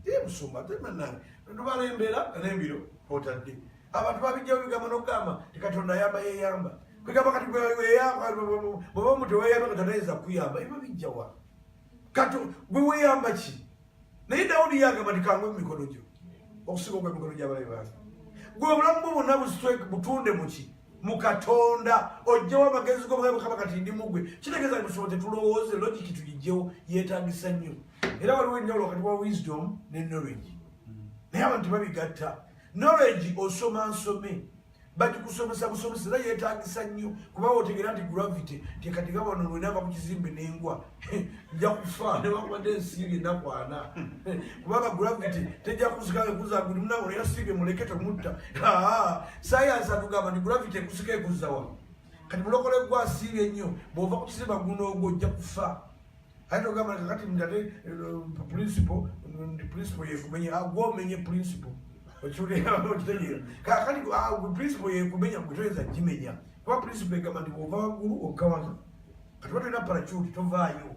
Ye musumba ate bannange tubala embeera n'embiro otadde abantu babijjawo bigambo n'okugamba ti katonda ayamba yeyamba kwegamba kati weyamba bweba omuntu weyamba nga tanayiza kuyamba eba bijjawa kati gwe weyamba ki naye dawudi yagamba ti kangwe mu mikono gyo okusinga ogwa mikono gy'abalabe bange gwe obulamu bwo bonna butunde muki mu katonda ojjawo amagezi go bwebukaba kati ndi mugwe kitegeeza nti tusobola tetulowooze logiki tugijjewo yeetagisa nnyo era waliwo enjawulo wakati wa wisdom ne knowledge naye abantu babigatta knowledge osoma nsome bagikusomesa busomesa era yeetagisa nnyo kuba wotegeera nti gravity tekatiga wano lwenava ku kizimbe n'engwa nja kufa newakubadde ensiibi nakwana kubanga gravity tejja kusika ekuza guli munawe era siibi muleke temutta sayansi atugamba nti gravity ekusika ekuzawa kati mulokole gwa siibi ennyo bwova ku kizimba guno ogwo ojja kufa ate togamba kakati mdate eh, principle ndi principle yekumenya agwa ah, omenye principle okiwulira okitegeera kakati ah, principle yekumenya gwe toyinza kimenya kuba principle egamba nti bwova waggulu okkawana kati batolina paracuti tovaayo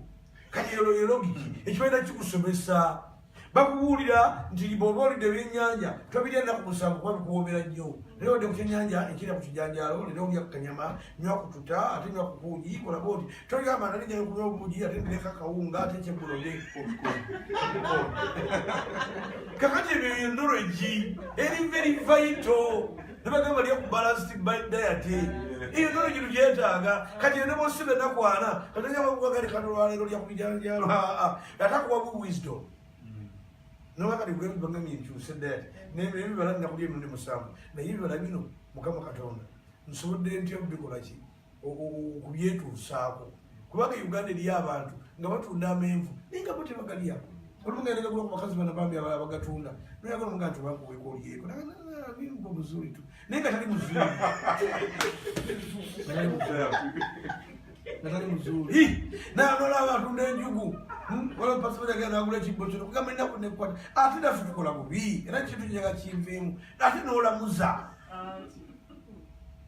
kati ero yelogiki ekibaina kikusomesa bakubuulira nti bwoba olidde ebyenyanja tobirya ennaku musanvu kuba bikuwoomera nnyo naye odde ku kyenyanja ekirya ku kijanjaalo lero olya ku kanyama nywa kututa ate nywa kubuugi kolaba oti tolya amana nigenda kunywa obuugi ate ndireka kawunga ate kyegulode kakati ebyo yendoro egi eri very vital nebagamba lya ku balanced by diet eyo nono kintu kyetaaga kati ene bosi benakwana katanyabakugagani kano lwaleero lya kubijanjalo atakuwa bu wisdom nobakati gwebibanga minkyuse diet nebibala nakulya emirundi musanvu naye ebibala bino mukama katonda nsobodde ntya kubikolaki kubyetuusaako kubanga uganda eriyo abantu nga batunda amenvu naye nga bo tebagalyako olumugaendagagula ku bakazi bana bambi abala bagatunda noyagala omuga nti obakuweka olyeko bimba omuzuli tu naye nga tali muzuli nga tali muzuli nanola abatunda enjugu hmm? wala pasibaagenda agula ekibbo kino kugamba enaku nekwata ate nafe tukola bubi era kintu nyaga kinviimu ate nolamuza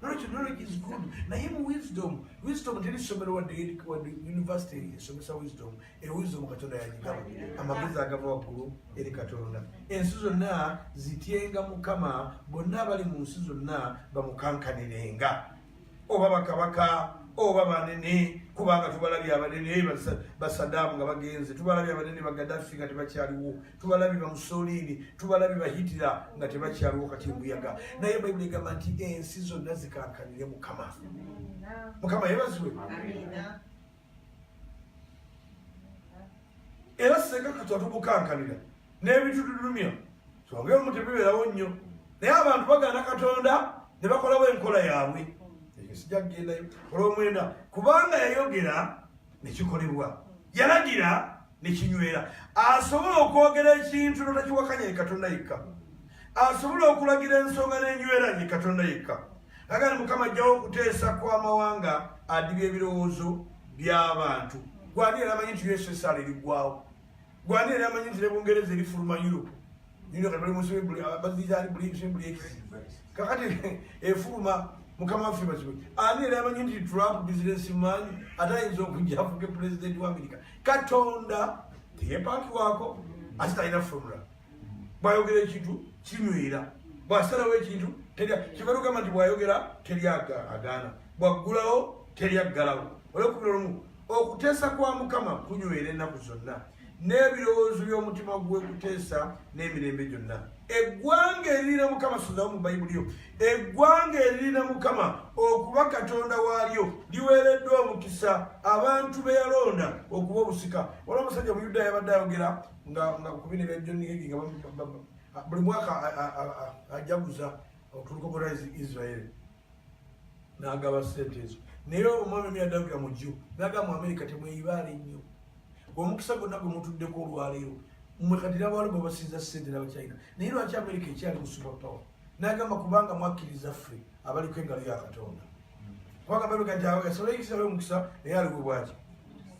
knowledge knowledge is good naye mu wisdom wisdom teri somero wadde wadde university esomesa wisdom e wisdom katonda yagigaba amagezi agava waggulu eri katonda ensi zonna zityenga mukama bonna abali mu nsi zonna bamukankanirenga oba bakabaka oba banene kubanga tubalabye abanene basadaamu nga bagenze tubalabye abanene bagadafi nga tebakyaliwo tubalabi bamusoliini tubalabi bahitira nga tebakyaliwo kati mbuyaga naye bayibuli egamba nti ensi zonna zikankanire mukama mukama yebaziwe era senga katwa tubukankanira n'ebintu tulumya twongere omu tebibeerawo nnyo naye abantu bagaana katonda ne bakolawo enkola yaabwe ekyo sijja kugendayo olwomwenda kubanga yayogera nekikolebwa yalagira nekinywera asobola okwogera ekintu notakiwakanya ye katonda yekka asobola okulagira ensonga nenywera ye katonda yekka agani mukama ajjawo okuteesa kwamawanga adibya ebirowoozo byabantu gwani era amanyi nti ussr erigwawo gwani era amanyi nti ne bungereza erifuluma europe nino kati bali muzibe buli abazizaali buli ekizibu buli ekizibu kakati efuluma mukama waffe bazibu ani era amanyi nti trump bizinesi maanyi ate ayinza okujja afuke pulezidenti wa amerika katonda teyepakiwako ate talina formula bwayogera ekintu kinywera bwasalawo ekintu kibalugamba nti bwayogera teri agaana bwaggulawo teri aggalawo olwokubira olumu okuteesa kwa mukama kunywera ennaku zonna n'ebirowoozo by'omutima gwe kuteesa n'emirembe gyonna eggwanga eririna mukama suzawo mu bayibuli yo eggwanga eririna mukama okuba katonda waalyo liweereddwa omukisa abantu be yalonda okuba obusika wala omusajja omuyudaaya abadde ayogera nga ku bino ebyajonigegi nga buli mwaka ajaguza otuluka bwa israeli n'agaba ssente ezo naye omwami mi adagira mu jju naga mu amerika temweyibaale nnyo omukisa gonna gwe mutuddeko olwaleero mwe kati nabaalo bwe basinza ssente nabachina naye lwaki amerika ekyali mu super power nagamba kubanga mwakkiriza ffe abaliko engalo ya katonda kubanga bebe kati awo yasala ekisa yo omukisa naye aliwe bwaki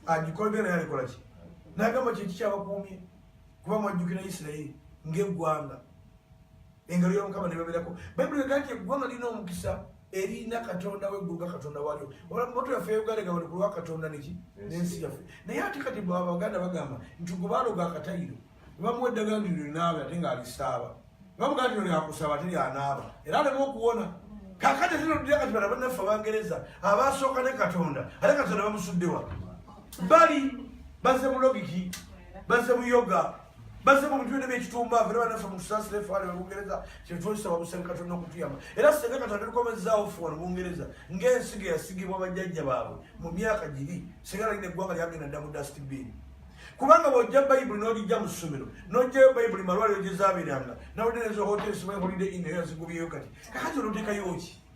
agikolde naye alikola ki nagamba kyeki kyabakuumye kuba mwajjukira isirayiri ng'eggwanga engalo ya mukama nebaberako bayibuli ega nti eggwanga lirina omukisa erina katonda wegguluga katonda walyo moto yaffe euganda nga balikulwa katonda neki nensi yaffe naye ate kati abaganda bagamba nti gwe baloga akatayiro bamuwa eddagala ndi linaaba ate ngaalisaaba bamugaa nti lyakusaba ate lyanaaba era alema okuwona kakati zinodira kati bana banaffe abangereza abasooka ne katonda ate katonda bamusuddewa bali baze mulogiki baze muyoga baze mu bintu byonna byekitumba fena banaffe mutusasira efaali wa bungereza kyetwesaba busenga katonda okutuyamba era senga katonda tukomezaawo ffe wano bungereza ng'ensigo eyasigibwa bajjajja baabwe mu myaka giri senga nagina eggwanga lyagenda dda mu dustbini kubanga bwojja bayibuli n'ogijja mu ssomero n'ojjayo bayibuli malwaliro gye zaabeeranga nawulira ezo hotel simaye holiday in eyo yazigubyeyo kati kakati onoteekayo ki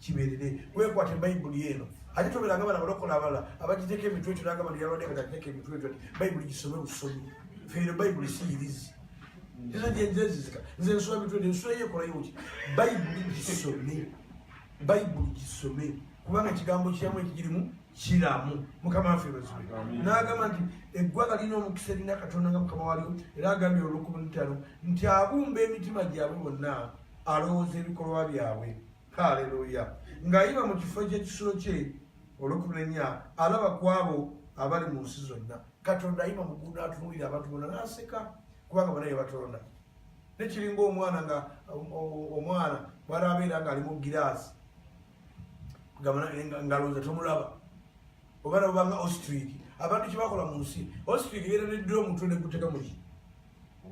kibeerere wekwate bayibuli eno ate tobeeranga bana balokola abalala abagiteeka emitwe ekyo nagamba nti yalwadde kati ateeka emitwe ekyo ti bayibuli gisome busomi feero bayibuli siyirizi era gyenzenzizika nze nsula mitwe ne nsula yekolayo ki bayibuli gisome bayibuli gisome kubanga ekigambo kyamu ekigirimu kiramu mukama waffe bazibe n'agamba nti eggwanga lirina omukisa erina katonda nga mukama walyo era agambye olwokubunitano nti abumba emitima gyabwe bonna alowooza ebikolwa byabwe haleluya ng'ayiba mu kifo ky'ekisulo kye olwekumi nenya alaba ku abo abali mu nsi zonna katonda ayiba mugunda atunuulira abantu bona n'aseka kubanga bona ye batonda nekiringa omwana nga omwana bwali abeera ng'ali mu giraasi ngalonza tomulaba oba nabobanga ostriki abantu kyebakola mu nsi ostriki beera neddira omutwe neguteka muki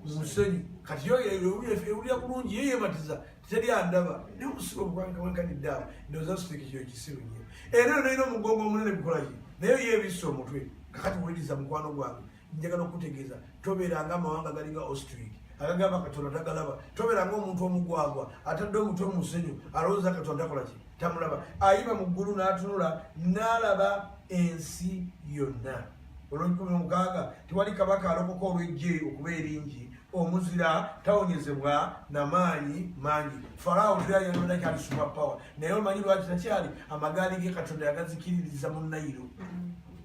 musenyu kati ewulira bulungi ye yebatiza teri andaba naye omusibe obukwankawankanidde awo ndoza siteki kyo kisiru nyo era onaina omugongo omunene gukolaki naye yebisa omutwe kakati wuliriza mukwano gwange njagala okukutegeeza tobeeranga amawanga galinga ostric agagamba katonda tagalaba tobeeranga omuntu omugwagwa atadde omutwe omusenyu alowooza katonda takolaki tamulaba ayiba mu ggulu n'atunula n'alaba ensi yonna olw'enkumi omukaaga tewali kabaka alokoka olw'eggye okuba eringi omuzira tawonyezebwa na maanyi mangi farawo lyayononaki ali super power naye omanyi lwaki takyali amagaali ge katonda yagazikiririza mu nayiro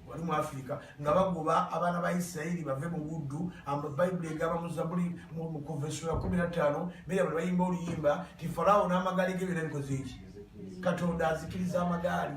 wali mu afirika nga bagoba abaana ba isirairi bave mu buddu bayibuli egamba muzabuli mukuvesula kumi na ttaano mera buli bayimba oluyimba ti farawo n'amagaali ge byona bikoze eki katonda azikiriza amagaali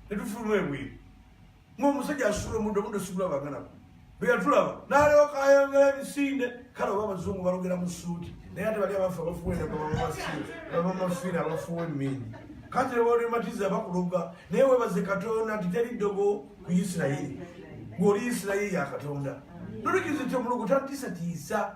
netufuluma ebweru ngaomusajja asula omuntu omuntu sigula baganabo bweyatulaba nalyoka ayongera emisinde kale oba abazungu balogera mu suuti naye ate bali abafu abafuwebamamafiina abafuwa emindi kati nebaolimatiza bakuloga naye webaze katonda nti teri ddogo ku isirayiri ng'oli isirayiri ya katonda nolekizityo omulugu tatisatiisa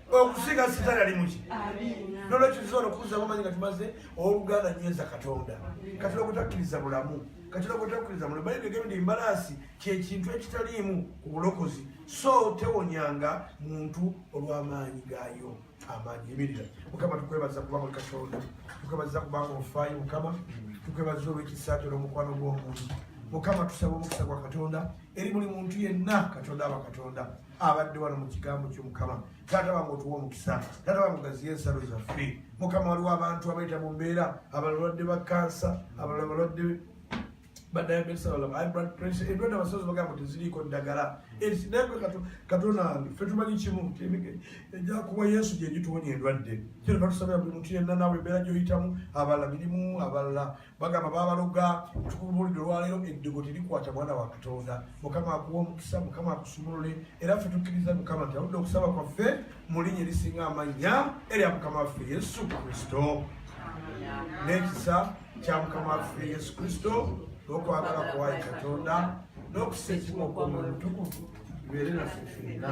okusinga sitaani ali muki nolwekyo tusobola okukuzamu amanyi nga tumaze owoluganda nyweza katonda katonda gwetakkiriza bulamu katonda gwetakkiriza bulamu bayibuli egambye nti embalaasi kyekintu ekitaliimu ku bulokozi so tewonyanga muntu olw'amaanyi gaayo amaanyi emirira mukama tukwebaza kuba muli katonda tukwebaza kubanga ofaayo mukama tukwebaza olw'ekisa kyo n'omukwano gw'omuntu mukama tusaba omukisa gwa katonda eri buli muntu yenna katonda aba katonda, katonda. abadde wano mu kigambo ky'omukama taata wange otuwa omukisa taata wange ogaziye ensalo zaffe mukama waliwo abantu abayita mu mbeera abalala balwadde ba kansa abalala balwadde badiabetes abalala high blood pressure endwadde abasozi bagamba teziriiko ddagala naye katonda wange fe tumanyi kimu ejakuwa yesu gyegituwonya endwadde kyetuba tusabira buli muntu yenna naawe embeera gyoyitamu abalala mirimu abalala bagamba babaloga tukulubulidde olwaleero eddigo terikwata mwana wa katonda mukama akuwa omukisa mukama akusumulule era ffe tukkiriza mukama nti aludde okusaba kwaffe mu linnya erisinga amannya erya mukama waffe yesu kristo n'ekisa kya mukama waffe yesu kristo n'okwagala kwayi katonda n'okusa ekimu okwomwoyo mutukuvu bibeere naffe fenna